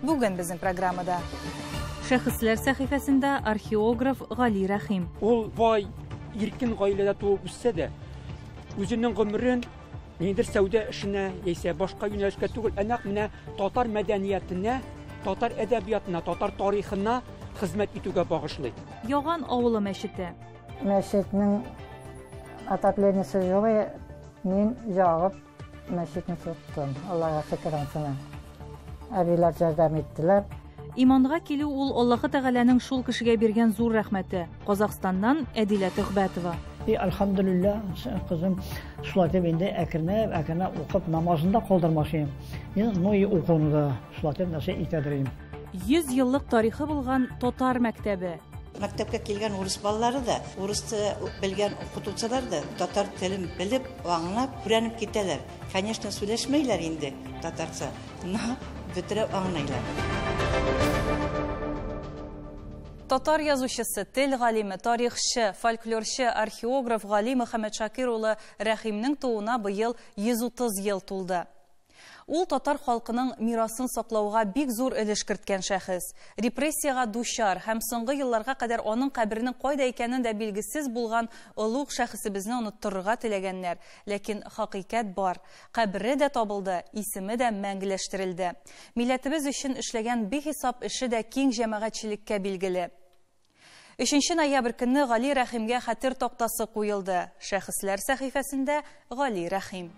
Бүген безнең программада Шәхесләр сәхифәсендә археограф Гали Рәхим. Ул бай, иркен гаиләдә туып үссә дә, үзенең гомерен ниндер сәүдә эшенә яисә башка юнәлешкә түгел, ә нәкъ менә татар мәдәниятенә, татар әдәбиятына, татар тарихына хезмәт итүгә багышлый. Яган авылы мәчете. Мәчетнең отоплениясе юк, мин ягып Мәчетне тоттым, Аллага шөкер ансына. Әбиләр ярдәм иттеләр. Иманга килү ул Аллаһы Тәгаләнең шул кешегә биргән зур рәхмәте. Казахстаннан Әдилә Төхбәтова. И, альхамдулилля, кызым, шулай дип инде әкренләп, әкренләп укып, намазын да калдырмасын. Ин, ну и укуны да шулай дип нәрсә итәдер инде. 100 еллык тарихы булган татар мәктәбе. Мәктәпкә килгән урыс балалары да, урыс белгән укытучылар да татар телен белеп, аңлап, күрәнеп китәләр. Конечно, сүләшмәйләр инде татарча, но бөтерәп аңлыйлар. Татар язучысы, тел галиме, тарихчы, фольклорчы, археограф Гали Мөхәммәтшакир улы Рәхимнең тууына быел 130 ел тулды. Ул татар халкының мирасын саклауга бик зур өлеш керткән шәхес. Репрессиягә дучар һәм соңгы елларга кадәр аның каберенең кайда икәнен дә билгесез булган олуг шәхесебезне оныттырырга теләгәннәр, ләкин хакыйкать бар, кабере дә табылды, исеме дә мәңгеләштерелде. Милләтебез өчен эшләгән бихисап эше дә киң җәмәгатьчелеккә билгеле. Өченче ноябрь көнне Гали Рәхимгә хәтер тактасы куелды. Шәхесләр сәхифәсендә Гали Рәхим.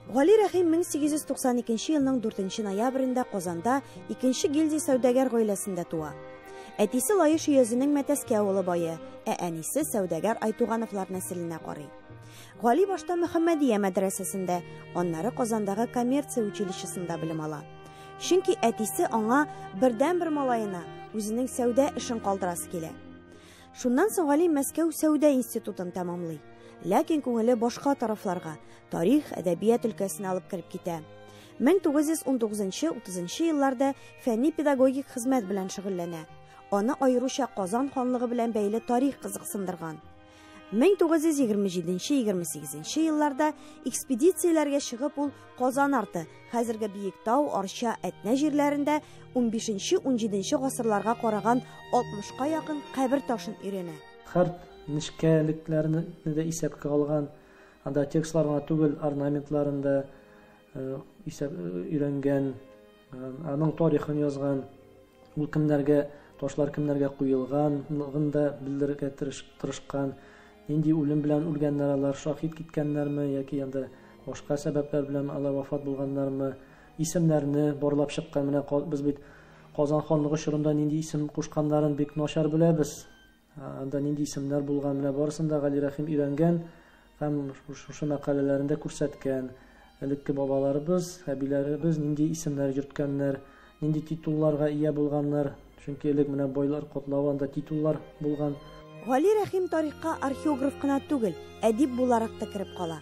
Гали Рәхим 1892 елның 4 ноябрендә Казанда икенче гильдия сәүдәгәр гаиләсендә туа. Әтисе Лаеш өязенең Мәтәскә авылы бае, ә әнисе сәүдәгәр Айтугановлар нәселенә карый. Гали башта Мөхәммәдия мәдрәсәсендә, аннары Казандагы коммерция училищесында белем ала. Чөнки әтисе аңа бердәнбер малаена үзенең сәүдә эшен калдырасы килә. Шуннан соң Гали Мәскәү сәүдә институтын тәмамлый. Ләкин күңеле башка тарафларга, тарих, әдәбият өлкәсенә алып кереп китә. 1919-30 елларда фәнни-педагогик хезмәт белән шөгыльләнә. Аны аеруча Казан ханлыгы белән бәйле тарих кызыксындырган. 1927-28 елларда экспедицияләргә чыгып ул Казан арты, хәзерге Биектау, Арча, Әтнә җирләрендә 15-17 гасырларга караган 60-ка якын кабер ташын өйрәнә. Харт нечкәлекләрне дә исәпкә алган, анда текстлар гына түгел, орнаментларын да исәп өйрәнгән, аның тарихын язган. Ул кемнәргә ташлар кемнәргә куелганлыгын да белдерергә тырышкан. Нинди үлем белән үлгәннәр алар, шаһит киткәннәрме яки анда башка сәбәпләр белән алар вафат булганнармы? Исемнәрне барлап чыккан. Менә без бит Казан ханлыгы чорында нинди исем кушканнарын бик начар беләбез. Анда нинди исемнәр булган, менә барысын да Гали Рәхим өйрәнгән һәм шушы мәкаләләрендә күрсәткән. Элекке бабаларыбыз, әбиләребез нинди исемнәр йөрткәннәр, нинди титулларга ия булганнар, чөнки элек менә байлар котлавы анда титуллар булган. Гали Рәхим тарихка археограф кына түгел, әдип буларак та кереп кала.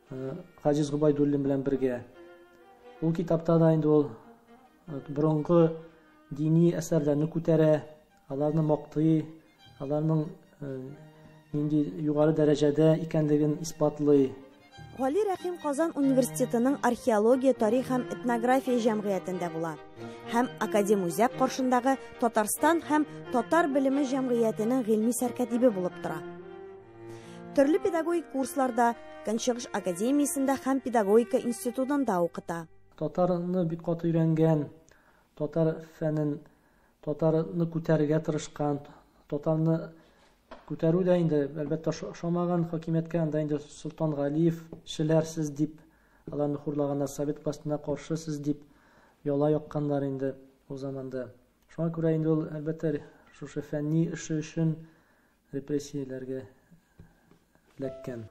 Хаҗиз Губайдуллин белән бергә. Ул китапта да инде ул борынгы дини әсәрләрне күтәрә, аларны мактый, аларның нинди югары дәрәҗәдә икәнлеген исбатлый. Гали Рәхим Казан университетының археология, тарих һәм этнография җәмгыятендә була. Һәм Академ үзәк каршындагы Татарстан һәм татар белеме җәмгыятенең гыйльми сәркәтибе булып тора. Төрле педагогик курсларда, Көнчыгыш академиясендә һәм педагогика институтында укыта. Татарны бик каты өйрәнгән, татар фәнен, татарны күтәрергә тырышкан, татарны күтәрү дә инде, әлбәттә, ошамаган хакимияткә анда инде Солтан Галиев, шеләр сез дип, аларны хурлаганнар, совет властена каршы сез дип, яла якканнар инде ул заманда. Шуңа күрә инде ул, әлбәттә, шушы фәнни эше өчен Репрессияләргә эләккән.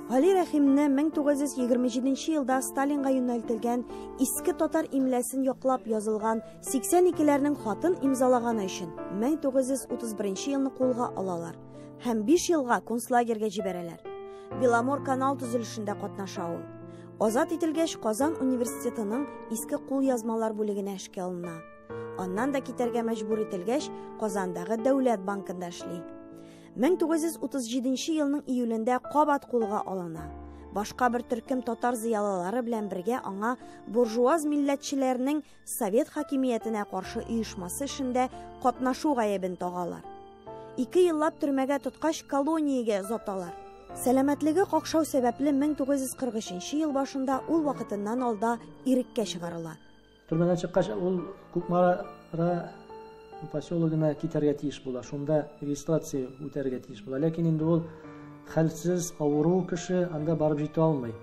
Гали Рәхимне 1927 елда Сталинга юнәлтелгән Иске татар имләсен яклап язылган 82 ләрнең хатын имзалаганы өчен 1931 елны кулга алалар һәм биш елга концлагерьгә җибәрәләр. Беломор канал төзелешендә катнаша ул. Азат ителгәч, Казан университетының Иске кулъязмалар бүлегенә эшкә алына. Аннан да китәргә мәҗбүр ителгәч, Казандагы Дәүләт банкында эшли. 1937 елның июлендә кабат кулга алына. Башка бер төркем татар зыялылары белән бергә аңа буржуаз милләтчеләрнең совет хакимиятенә каршы оешмасы эшендә катнашу гаебен тагалар. Ике еллап төрмәгә тоткач колониягә озаталар. Сәламәтлеге какшау сәбәпле 1943 ел башында ул вакытыннан алда иреккә чыгарыла. Төрмәдән чыккач, ул Кукмара поселогына китәргә тиеш була. Шунда регистрация үтәргә тиеш була. Ләкин инде ул хәлсез, авыру кеше анда барып җитә алмый.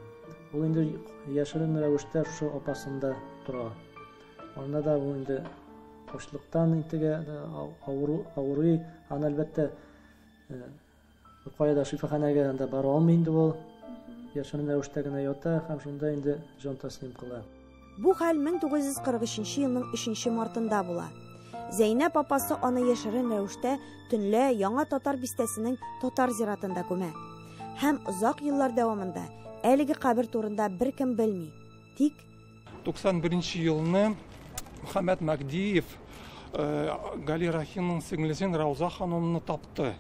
Ул инде яшерен рәвештә шушы апасында тора. Анда да ул инде ачлыктан интегә авыру, авырый, аны әлбәттә Кая да шифаханәгә анда бара алмый инде ул. Яшерен рәвештә генә ята һәм шунда инде җан тәслим кыла. Бу хәл 1943 елның 3 мартында була. Зәйнәп апасы аны яшерен рәвештә төнлә Яңа Татар бистәсенең татар зиратында күмә. Һәм озак еллар дәвамында әлеге кабер турында беркем белми. Тик 91 елны Мөхәммәд Мәгдиев Гали Рахимның сеңлесен Рауза ханымны тапты.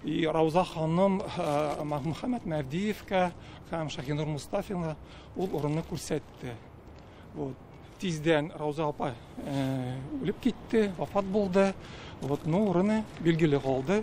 И Рауза ханым Мөхәммәд Мәгдиевка һәм Шахинур Мустафина ул урынны күрсәтте. Вот. Тиздән Рауза апа үлеп китте, вафат булды. Вот, ну, урыны билгеле калды.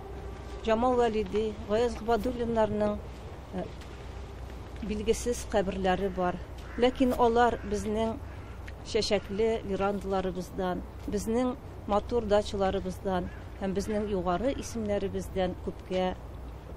Җамал Вәлиди, Гаяз Гобәдуллиннарның билгесез каберләре бар. Ләкин алар безнең чәчәкле верандаларыбыздан, безнең матур дачаларыбыздан һәм безнең югары исемнәребездән күпкә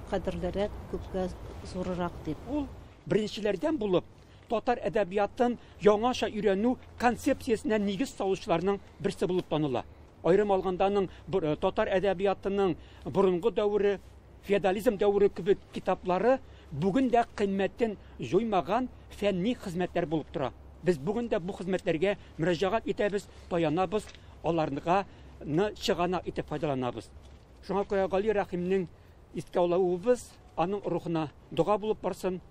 кадерлерәк, күпкә зурырак, дип. Ул беренчеләрдән булып татар әдәбиятын яңача өйрәнү концепциясенә нигез салучыларның берсе булып таныла. Аерым алганда аның э, татар әдәбиятының борынгы дәвере, феодализм дәвере кебек китаплары бүген дә кыйммәтен җуймаган фәнни хезмәтләр булып тора. Без бүген дә бу хезмәтләргә мөрәҗәгать итәбез, таянабыз, аларга чыганак итеп файдаланабыз. Шуңа күрә Гали Рәхимнең искә алуыбыз аның рухына дога булып барсын.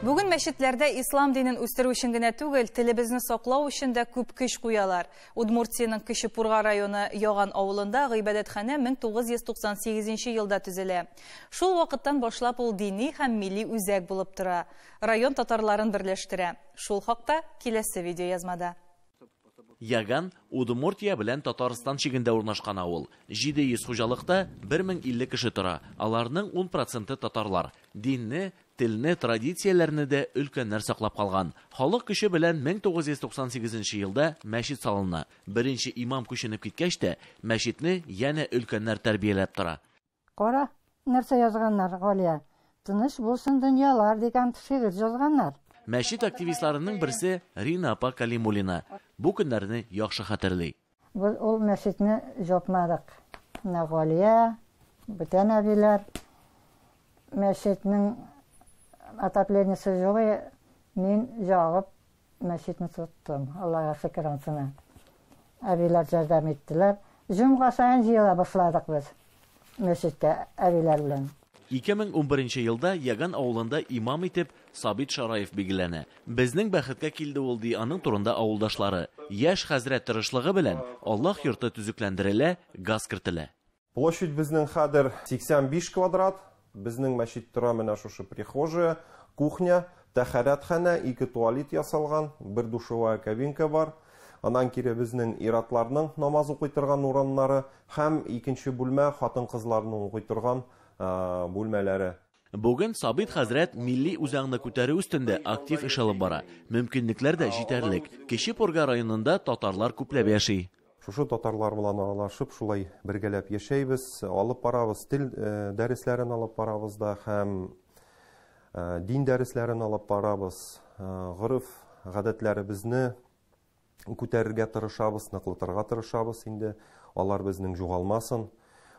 Бүген мәчетләрдә ислам динен үстерү өчен генә түгел, телебезне саклау өчен дә күп көч куялар. Удмуртиянең Кече Пурга районы Яган авылында гыйбадәтханә 1998 елда төзелә. Шул вакыттан башлап ул дини һәм милли үзәк булып тора, район татарларын берләштерә. Шул хакта киләсе видеоязмада. Яган, Удмуртия белән Татарстан чигендә урнашкан авыл. 700 хуҗалыкта 1050 кеше тора, аларның ун проценты татарлар. Динне, телне, традицияләрне дә өлкәннәр саклап калган. Халык көче белән 1998 нче елда мәчет салына. Беренче имам күченеп киткәч тә, мәчетне янә өлкәннәр тәрбияләп тора. Кара, нәрсә язганнар, Галия, Тыныч булсын дөньялар дигән шигырь җазганнар. Мәчет активистларының берсе Рина апа Калимуллина бу көннәрне яхшы хәтерли. Без ул мәчетне җапмадык. Менә Галия, бүтән әбиләр, мәчетнең отоплениясе җылы, мин җагып. Мәчетне тоттым, Аллага шөкер ансына. Әбиләр жәрдәм иттеләр. Җомга саен җыела башладык без мәчеткә әбиләр белән. 2011 елда Яган авылында имам итеп Сабит Шараев билгеләнә. Безнең бәхеткә килде ул, ди аның турында авылдашлары. Яшь хәзрәт тырышлыгы белән Аллаһ йорты төзекләндерелә, газ кертелә. Площадь безнең хәдер 85 квадрат. Безнең мәчет тора менә шушы прихожая, кухня, тәхәрәтханә, ике туалет ясалган, бер душевая кабинка бар. Аннан кире безнең ир-атларның намаз укый торган урыннары һәм икенче бүлмә хатын-кызларның укый торган бүлмәләре. Бүген Сабит хәзрәт милли үзаңны күтәрү өстендә актив эш алып бара. Мөмкинлекләр дә җитәрлек. Кече Пурга районында татарлар күпләп яши. Шушы татарлар белән аралашып, шулай бергәләп яшәйбез, алып барабыз, тел дәресләрен алып барабыз да һәм дин дәресләрен алып барабыз, гореф-гадәтләребезне, күтәрергә тырышабыз, ныклытырга тырышабыз инде, алар безнең югалмасын.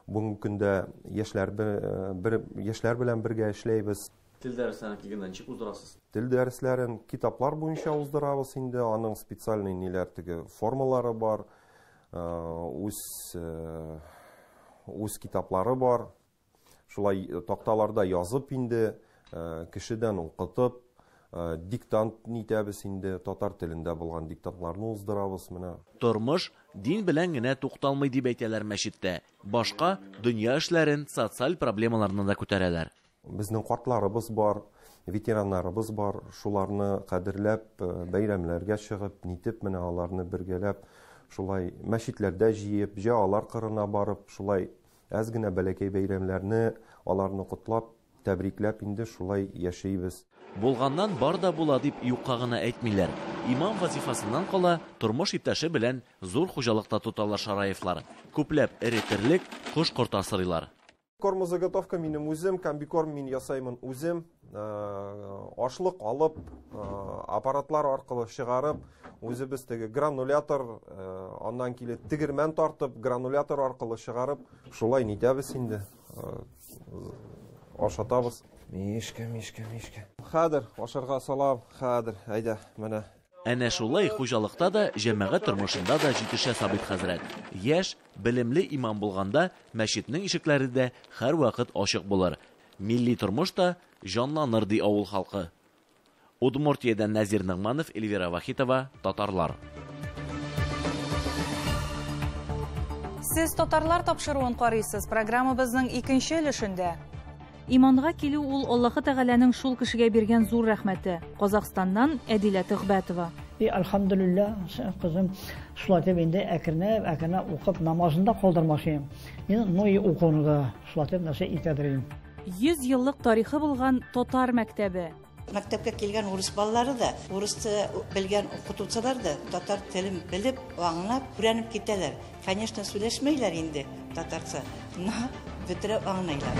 Бүгенге көндә яшьләр бер яшьләр белән бергә эшләйбез. Тел дәресләрен килгәндә ничек уздырасыз? Тел дәресләрен китаплар буенча уздырабыз инде, аның специальный ниләр теге формалары бар, үз үз китаплары бар. Шулай такталарда язып инде, кешедән укытып, диктант нитәбез инде, татар телендә булган диктантларны уздырабыз менә. Тормыш дин белән генә тукталмый дип әйтәләр мәчеттә. Башка дөнья эшләрен, социаль проблемаларны да күтәрәләр. Безнең картларыбыз бар, ветераннарыбыз бар, шуларны кадерләп, бәйрәмнәргә чыгып, нитеп менә аларны бергәләп шулай мәчетләрдә җыеп, җә алар кырына барып шулай Әз генә бәләкәй бәйрәмләрне, аларны котлап, тәбрикләп инде шулай яшибез. Булганнан бар да була дип юкка гына әйтмиләр. Имам вазифасыннан кала, тормыш иптәше белән зур хуҗалык та тоталар Шараевлар. Күпләп эре терлек, кош-корт асрыйлар. Кормозаготовка минем үзем, комбикорм мин ясаймын үзем. ашлык алып аппаратлар аркылы чыгарып үзебез теге гранулятор аннан килеп тегермән тартып гранулятор аркылы чыгарып шулай нитәбез инде ашатабыз мишка мишка мишка хәзер ашарга салам хәзер әйдә менә Әнә шулай хуҗалыкта да, җәмәгать тормышында да җитешә Сабит хәзрәт. Яшь, белемле имам булганда, мәчетнең ишекләре дә һәрвакыт ачык булыр. Милли тормыш та җанланыр, ди авыл халкы. Удмуртиядән Нәзир Ногманов, Эльвира Вахитова, Татарлар. Сез татарлар тапшыруын карыйсыз, программабызның икенче өлешендә. Иманга килү ул Аллаһы Тәгаләнең шул кешегә биргән зур рәхмәте. Казахстаннан Әдилә Төхбәтова. И Альхамдулилла, кызым, шулай итеп инде әкренләп, әкренләп укып, намазын да калдырмас идем. Ин, ну и укуны да. Шулатып нәрсә итәдер инде. 100 еллык тарихы булган татар мәктәбе. Мәктәпкә килгән урыс балалары да, урыс белгән укытучылар да татар телен белеп, аңлап, күрәнеп китәләр. Конечно, сүләшмәйләр инде татарча, но бөтерә аңлыйлар.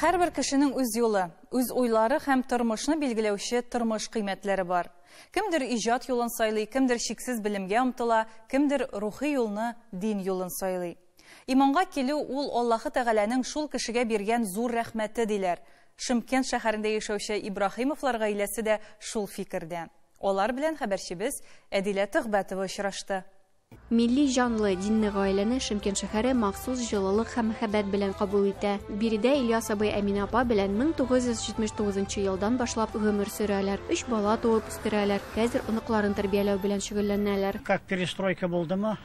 Һәрбер кешенең үз юлы, үз уйлары һәм тормышны билгеләүче тормыш кыйммәтләре бар. Кемдер иҗат юлын сайлый, кемдер чиксез белемгә омтыла, кемдер рухи юлны, дин юлын сайлый. Иманга килү, ул Аллаһы Тәгаләнең шул кешегә биргән зур рәхмәте, диләр. Шымкент шәһәрендә яшәүче Ибраһимовлар гаиләсе дә шул фикердә. Алар белән хәбәрчебез Әдилә Төхбәтова очрашты. Милли җанлы, динле гаиләне Шымкент шәһәре махсус җылылык һәм мәхәббәт белән кабул итә. Биредә Ильяс абый Әминә апа белән 1979 нчы елдан башлап гомер сөрәләр. Өч бала туып үстерәләр, хәзер оныкларын тәрбияләү белән шөгыльләнәләр. Как перестройка булдымы,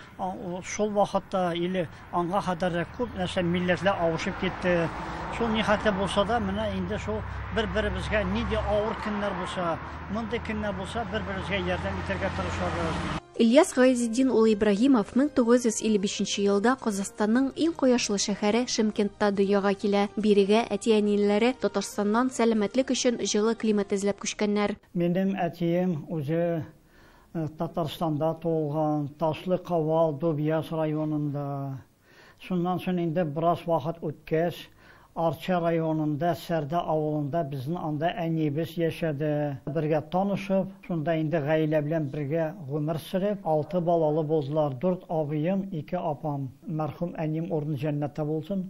шул вакытта или Аңга кадәр дә күп нәрсә, милләтләр авышып китте. Шул ни хәтле булса да, менә инде шул бер-беребезгә нинди авыр көннәр булса, мондый көннәр булса, бер-беребезгә ярдәм итәргә тырышабыз. Ильяс Гыйзетдин улы Ибраһимов 1955 нче елда Казахстанның иң кояшлы шәһәре Шымкентта дөньяга килә. Бирегә әти-әниләре Татарстаннан сәламәтлек өчен җылы климат эзләп күчкәннәр. Минем әтием үзе Татарстанда туылган, Ташлы Кавал, Дубъяз районында. Шуннан соң инде бераз вакыт үткәч, Арча районында Сәрдә авылында безнең анда әниебез яшәде. Бергә танышып, шунда инде гаилә белән бергә гомер сөреп, алты балалы булдылар. Дүрт абыем, ике апам. Мәрхүм әнием урыны җәннәттә булсын.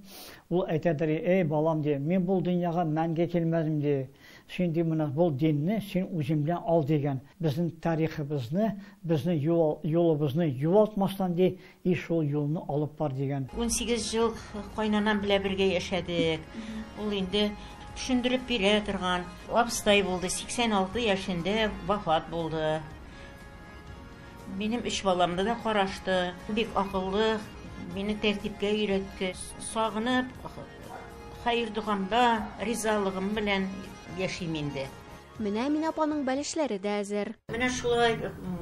Ул әйтәдер, Эй, балам, ди, мин бу дөньяга мәңге килмәдем, ди. Син ди менә бул динне син үзең белән ал дигән. Безнең тарихыбызны, безнең юлыбызны югалтмастан ди, и шул юлны алып бар дигән. Унсигез ел кайнанам белән бергә яшәдек. Ул инде төшендереп бирә торган. Абыстай булды, 86 яшендә вафат булды. Минем өч баламны да карашты. Бик акыллы, мине тәртипкә өйрәтте. Сагынып. Хәер-догамда, ризалыгым белән яшим инде. Менә Әминә апаның бәлешләре дә әзер. Менә шулай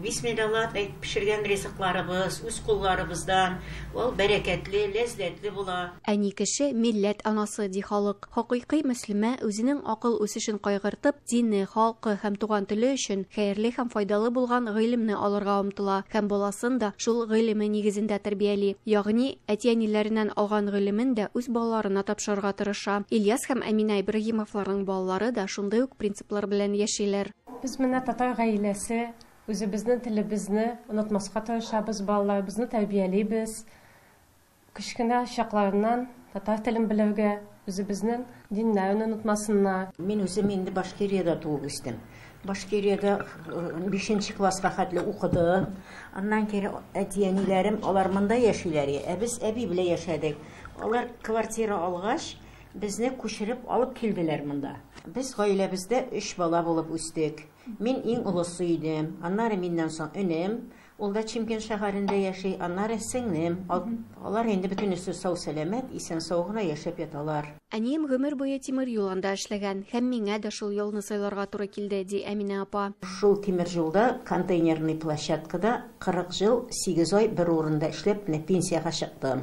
бисмиллаллап әйтеп пешергән ризыкларыбыз, үз кулларыбыздан, ул бәрәкәтле, ләззәтле була. Әни кеше, милләт анасы, ди халык. Хакыйкый мөслимә, үзенең акыл үсешен кайгыртып, дине, халкы һәм туган теле өчен хәерле һәм файдалы булган гыйлемне алырга омтыла һәм баласын да шул гыйлеме нигезендә тәрбияли. Ягъни, әти-әниләреннән алган гыйлемен дә үз балаларына тапшырырга тырыша. Ильяс һәм Әминә Ибраһимовларның балалары да шундый ук принциплар белән яшиләр. Без менә татар гаиләсе, үзебезнең телебезне онытмаска тырышабыз, балаларыбызны тәрбиялибез. Кечкенә чакларыннан татар телен белергә, үзебезнең диннәрне онытмасыннар. Мин үзем инде Башкириядә туып үстем. Башкириядә бишенче класска хәтле укыдым. Аннан кире әти-әниләрем, алар монда яшиләр, ә без әби белән яшәдек. Алар квартира алгач, безне күчереп алып килделәр монда. Без гаиләбездә өч бала булып үстек. Мин иң олысы идем. Аннары миннән соң энем, Ул да Чимкент шәһәрендә яши, аннары сеңлем. Алар инде бөтенесе сау-сәламәт, исән-сау гына яшәп яталар. Әнием гомер буе тимер юл анда эшләгән һәм миңа дә шул юлны сайларга туры килде, ди Әминә апа. Шул тимер юлда, контейнерный площадкада 40 ел, 8 ай бер урында эшләп, менә пенсиягә чыктым.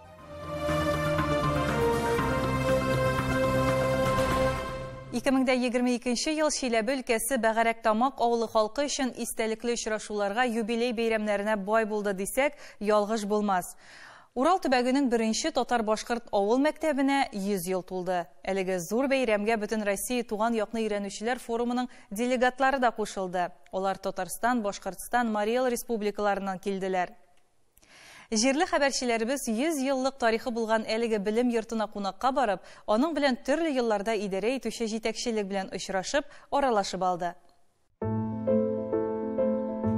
Ике мең дә егерме икенче ел Чиләбе өлкәсе Бәгәрәктамак авылы халкы өчен истәлекле очрашуларга, юбилей бәйрәмнәренә бай булды дисәк, ялгыш булмас. Урал төбәгенең беренче татар-башкорт авыл мәктәбенә 100 ел тулды. Әлеге зур бәйрәмгә бөтен Россия туган якны өйрәнүчеләр форумының делегатлары да кушылды. Алар Татарстан, Башкортстан, Марий Эл республикаларыннан килделәр. Җирле хәбәрчеләребез 100 еллык тарихы булган әлеге белем йортына кунакка барып, аның белән төрле елларда идарә итүче җитәкчелек белән очрашып, аралашып алды.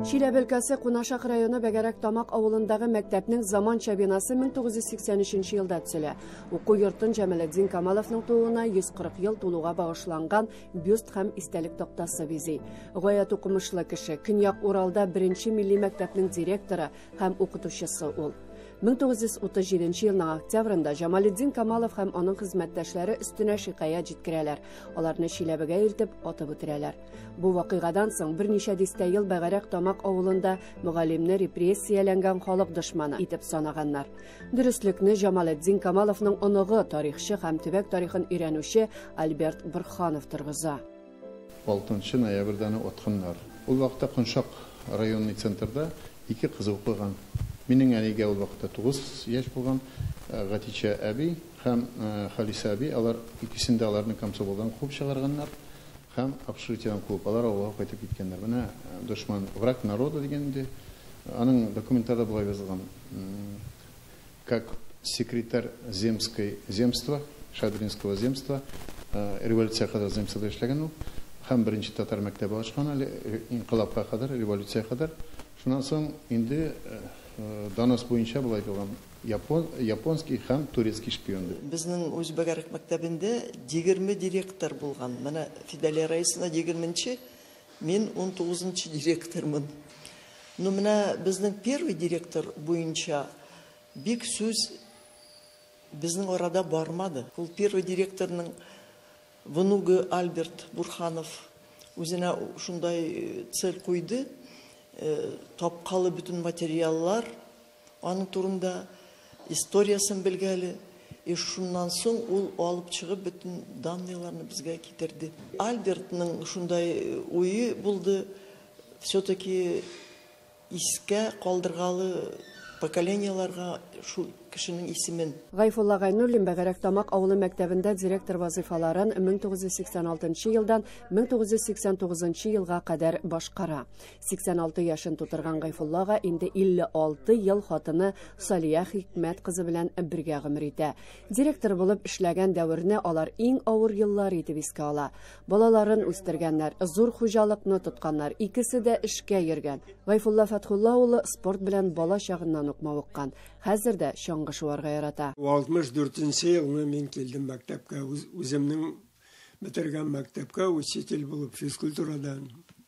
Чиләбе өлкәсе Кунашак районы Бәгәрәк Тамак авылындагы мәктәпнең заманча бинасы 1983 елда төзелә. Уку йортын Җамалетдин Камаловның тууына 140 ел тулуга багышланган бюст һәм истәлек тактасы бизи. Гаять укымышлы кеше, Көньяк Уралда беренче милли мәктәпнең директоры һәм укытучысы ул. 1937 елның октябрында Җамалетдин Камалов һәм аның хезмәттәшләре өстенә шикаять җиткерәләр. Аларны Чиләбегә илтеп, атып үтерәләр. Бу вакыйгадан соң берничә дистә ел бәгарәк Тамак авылында мөгаллимне репрессияләнгән халык дошманы итеп санаганнар. Дөреслекне Җамалетдин Камаловның оныгы, тарихчы һәм төбәк тарихын өйрәнүче Альберт Борһанов торгыза. 6 нчы ноябрьдә аны отканнар. Ул вакытта Коншак районный центрда ике кызы укыган. Минең әнигә ул вакытта тугыз яшь булган. Гатичә әби һәм Халисә әби, алар икесен дә аларны комсомолдан куып чыгарганнар. Һәм общежитиедән куып, алар авылга кайтып киткәннәр. Менә дошман, враг народа дигән инде. Аның документларда болай язылган, Как секретарь земской земства, Шадринского земства, революциягә кадәр земствода эшләгән ул. Һәм беренче татар мәктәбе ачкан әле, инкыйлабка кадәр, революциягә кадәр. Шуннан соң инде донос буенча болай язылган. Япон, японский һәм турецкий шпион дип. Безнең Үзбәгәрәк мәктәбендә егерме директор булган. Менә Фидалия Раисовна егерменче, мин унтугызынчы директормын. Ну, менә безнең первый директор буенча бик сүз безнең арада бармады. Ул первый директорның внугы Альберт Бурханов үзенә шундай цель куйды, тапкалы бөтен материаллар, Аның турында историясен белгә әле. И шуннан соң ул алып чыгып бөтен данныйларны безгә китерде. Альбертның шундай уе булды, все-таки искә калдыргалы поколениеларга шул кешенең исемен. Гайфулла Гайнуллин Бәгәрәк Тамак авылы мәктәбендә директор вазыйфаларын 1986 елдан 1989 елга кадәр башкара. 86 яшен тутырган Гайфуллага инде 56 ел хатыны Салия Хикмәт кызы белән бергә гомер итә. Директор булып эшләгән дәверне алар иң авыр еллар итеп искә ала. Балаларын үстергәннәр, зур хуҗалыкны тотканнар, икесе дә эшкә йөргән. Гайфулла Фәтхулла улы спорт белән бала чагыннан ук мавыккан. Хәзер дә чаңгы шуарга ярата. 64 елны мин килдем мәктәпкә, үземнең бетергән мәктәпкә учитель булып физкультурадан.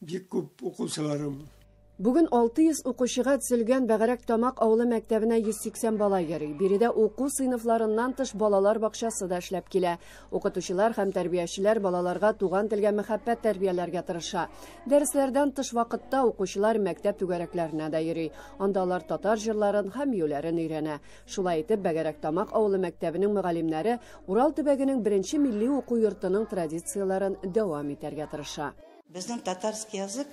Бик күп укучыларым. Бүген 600 укучыга төзелгән Бәгәрәк Тамак авылы мәктәбенә 180 бала йөри. Биредә уку сыйныфларыннан тыш балалар бакчасы да эшләп килә. Укытучылар һәм тәрбиячеләр балаларга туган телгә мәхәббәт тәрбияләргә тырыша. Дәресләрдән тыш вакытта укучылар мәктәп түгәрәкләренә дә йөри. Анда алар татар җырларын һәм биюләрен өйрәнә. Шулай итеп, Бәгәрәк Тамак авылы мәктәбенең мөгаллимнәре Урал төбәгенең беренче милли уку йортының традицияләрен дәвам итәргә тырыша. Безнең татарский язык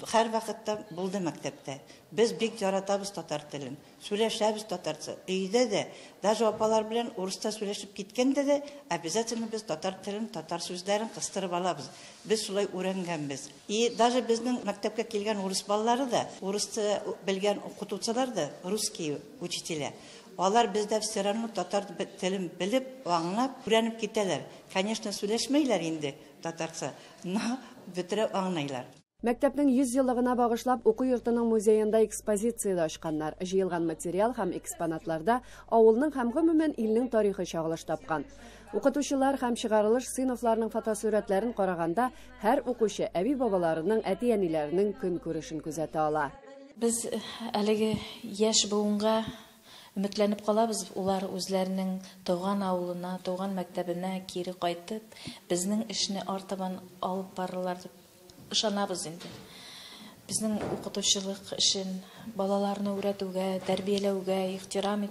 һәрвакытта булды мәктәптә. Без бик яратабыз татар телен. Сүләшәбез татарча. Өйдә дә, даже апалар белән урысча сүләшеп киткәндә дә, обязательно без татар телен, татар сүзләрен кыстырып алабыз. Без шулай үрәнгәнбез. И даже безнең мәктәпкә килгән урыс балалары да, урысча белгән укытучылар да, русские учителя, алар бездә все равно татар телен белеп, аңлап, үрәнеп китәләр. Конечно, сүләшмәйләр инде. Татарча на бөтерәү аңлыйлар. Мәктәпнең 100 еллыгына багышлап уку йортының музеенда экспозиция дә ачканнар. Җыелган материал һәм экспонатларда авылның һәм, гомумән, илнең тарихы чагылыш тапкан. Укытучылар һәм чыгарылыш сыйныфларының фотосурәтләрен караганда, һәр укучы әби-бабаларының, әти-әниләренең көнкүрешен күзәтә ала. Без әлеге яшь буынга Өметләнеп калабыз, улар үзләренең туган авылына, туган мәктәбенә кире кайтып, безнең эшне артабан алып барырлар дип ышанабыз инде. Безнең укытучылык эшен, балаларны үрәтүгә, тәрбияләүгә ихтирам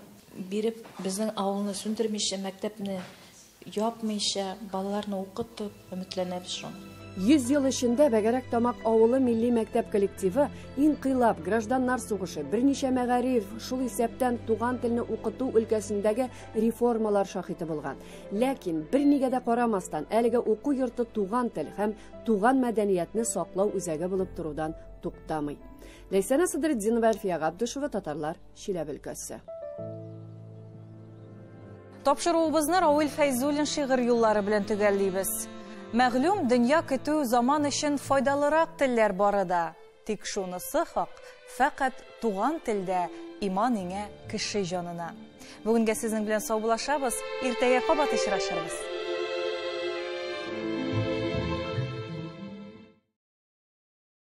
биреп, безнең авылны сүндермичә, мәктәпне Япмыйча, балаларны укытып, өметләнәбез шул. Йөз ел эчендә Бәгәрәк Тамак авылы милли мәктәп коллективы Инкыйлаб, Гражданнар сугышы, берничә мәгариф, шул исәптән туган телне укыту өлкәсендәге реформалар шаһиты булган. Ләкин, бернигә дә карамастан, әлеге уку йорты туган тел һәм туган мәдәниятне саклау үзәге булып торудан туктамый. Ләйсәнә Садретдинова, Әлфия Габдушева, Татарлар. Чиләбе өлкәсе. Тапшыруыбызны Рауил Фәйзуллин шигырь юллары белән төгәллибез. Мәгълүм, дөнья көтү заман өчен файдалырак телләр бары да. Тик шунысы хак, фәкать туган телдә иман иңә кеше җанына. Бүгенгә сезнең белән саубулашабыз, иртәгә кабат очрашырбыз.